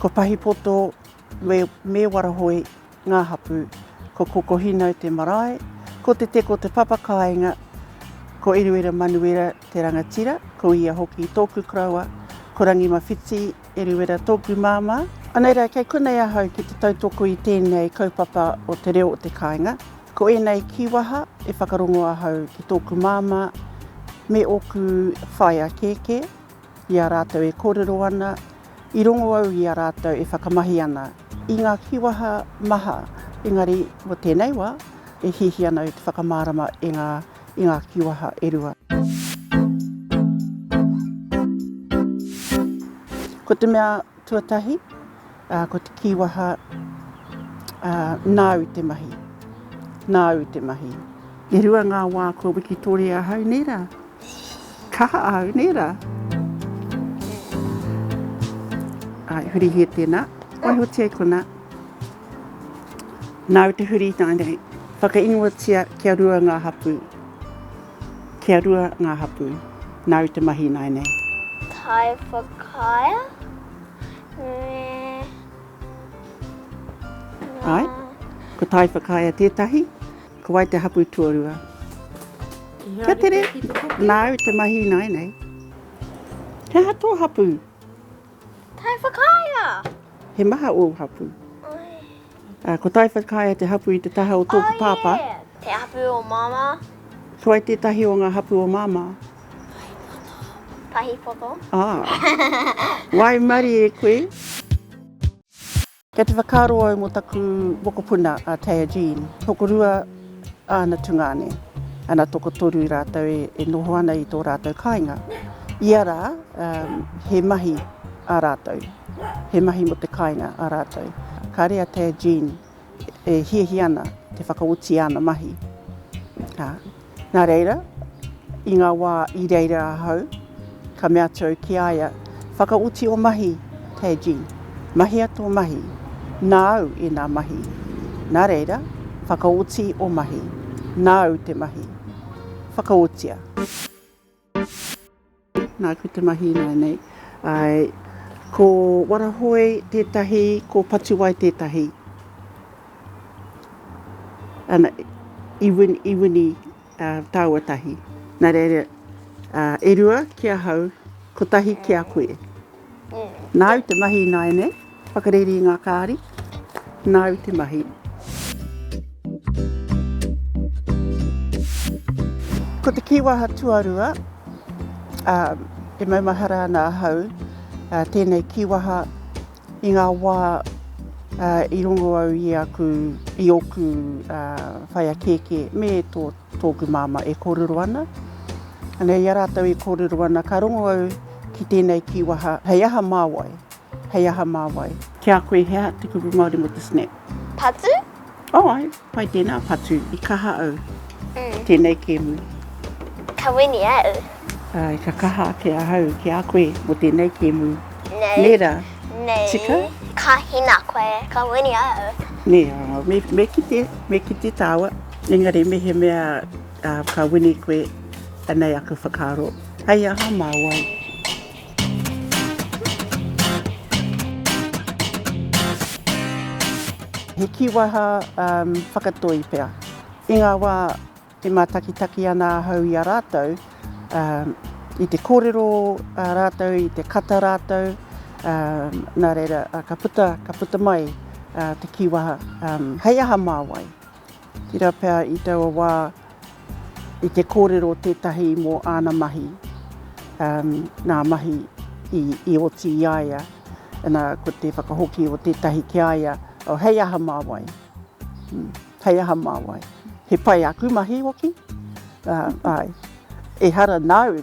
Ko Pahipoto me me Warahoe ngā hapū, ko Kokohinau te marae, ko Te Teko te papa kāinga, ko Eruera Manuera te rangatira, ko ia hoki tōku koroua, ko Rangimawhiti Eruera tōku māmā. Anei rā, kei konei ahau ki te tautoko i tēnei kaupapa o te reo o te kāinga. Ko ēnei kīwaha e whakarongo ahau ki tōku māmā me ōku whaea kēkē. I a rātou e kōrero ana, i rongo au i a rātou e whakamahi ana i ngā kīwaha maha, engari mō tēnei wā, e hiahia ana au te whakamārama i ngā, i ngā kīwaha e rua. Ko te mea Tuatahi, ko te kīwaha, nāu te mahi, nāu te mahi. E rua ngā wā kua wikitoria ahau, nē rā? Kaha au, nē rā? Āe, hurihia tēnā. Waihotia i konā. Nāu te huri i nāianei. Whakaingoatia kia rua ngā hapū. Kia rua ngā hapū. Nāu te mahi ināianei. Taiwhakaea me ngā. Āe, ko Taiwhakaea tētahi, ko wai te hapū tuarua? Kia tere, nāu te mahi ināianei. He aha tō hapū? Tae Whakaea! He maha ōu hapū. Oi. Ko Tae Whakaea te hapū i te taha o tōku pāpā. Oh yeah! Te hapū o Māmā. Ko wai tētahi o ngā hapū o Māmā? Pahipoto. Pahipoto. Ah! Waimarie koe! Kei te whakaaro au mō taku mokopuna a Taya Jean. Tokorua āna tungāne, ana tokotoru rātou e, e noho ana i tō rātou kāinga. Ia rā, um, he mahi ā rātou, he mahi mō te kāinga ā rātou. Kāre a Taya Jean e hiahia ana te whakaoti āna mahi. Ha, Nā reira, i ngā wā i reira ahau, ka mea atu au ki a ia, Whakaoti ō mahi, Taji. Mahia tō mahi. Nāu ēnā mahi. Nā reira, whakaoti ō mahi. Nāu te mahi. Whakaotia. Nāku te mahi ināianei. Āe, ko Warahoe tētahi, ko Patuwai tētahi. Ana, i win, i wini ā, tāua tahi. Nā reira, ā, e rua ki ahau, kotahi ki a koe. Nāu te mahi ināianei. Whakareri i ngā kāri, nāu te mahi. Ko te kīwaha tuarua, e maumahara ana ahau tēnei kīwaha i ngā wā i rongo au i aku, i oku whaia kēkē me tō, tōku māma e kōrero ana. Anei, i a rātou e kōrero ana, ka rongo au ki tēnei kīwaha, hei aha māwai, Hei aha mā wai? Ki a koe hea te kupu Māori mō te snap? Patu? Oh ai, pai tēnā patu, i kaha au. Mm. Tēnei kēmu. Ka wini au. Ai, ka kaha ake ahau ki a koe mō tēnei kēmu. Nei. Nē rā? Nei. Tika? Ka hina koe, ka wini au. Nē, me, me kite, me kite tāua. Engari mehemea uh, ka wini koe, anei aku whakaaro. Hei aha mā wai? He kīwaha whakatoi pea. I ngā wā e mātakitaki ana ahau i a rātou, i te kōrero rātou, i te kata rātou, nā reira, ka puta, ka puta mai te kīwaha, hei aha mā wai? Tira pea i taua wā i te kōrero tētahi mō āna mahi, nā mahi i oti i a ia, nā ko te whakahoki o tētahi ki a ia, oh hei aha mā wai, hei aha mā wai, he pai aku mahi hoki, āe, ehara nāu.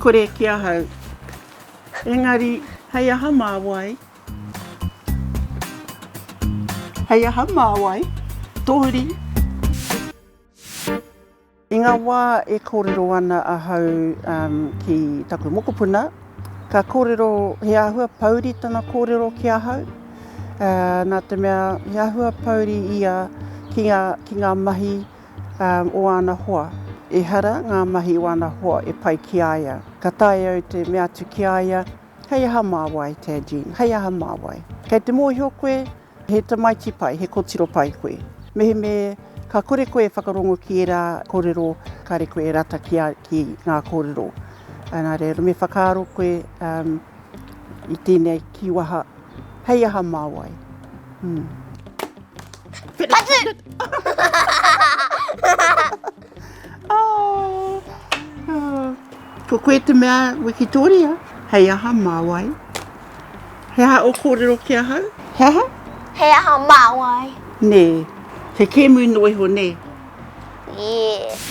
Kore ki ahau. Engari, hei aha mā wai? Hei aha mā wai? Tohuri. I ngā wā e kōrero ana ahau ki taku mokopuna, ka kōrero he āhua pouri tana kōrero ki ahau, nā te mea he āhua pouri ia ki ngā mahi o āna hoa. Ehara ngā mahi o āna hoa e pai ki a ia. Ka taea au te mea atu ki a ia, Hei aha mā wai, Tadgene, hei aha mā wai? Kei te mōhio koe, he tamaiti pai, he kotiro pai koe. Mehemē ka kore koe e whakarongo ki ērā kōrero, kāre koe e rata ki ngā kōrero. Engari me whakaaro koe i tēnei kīwaha. Hei aha mā wai? Ko koe te mea wikitoria, hei aha mā wai? He aha o kōrero ki ahau? He aha? Hei aha mā wai? Nē, he kēmu noa iho, nē? Yes.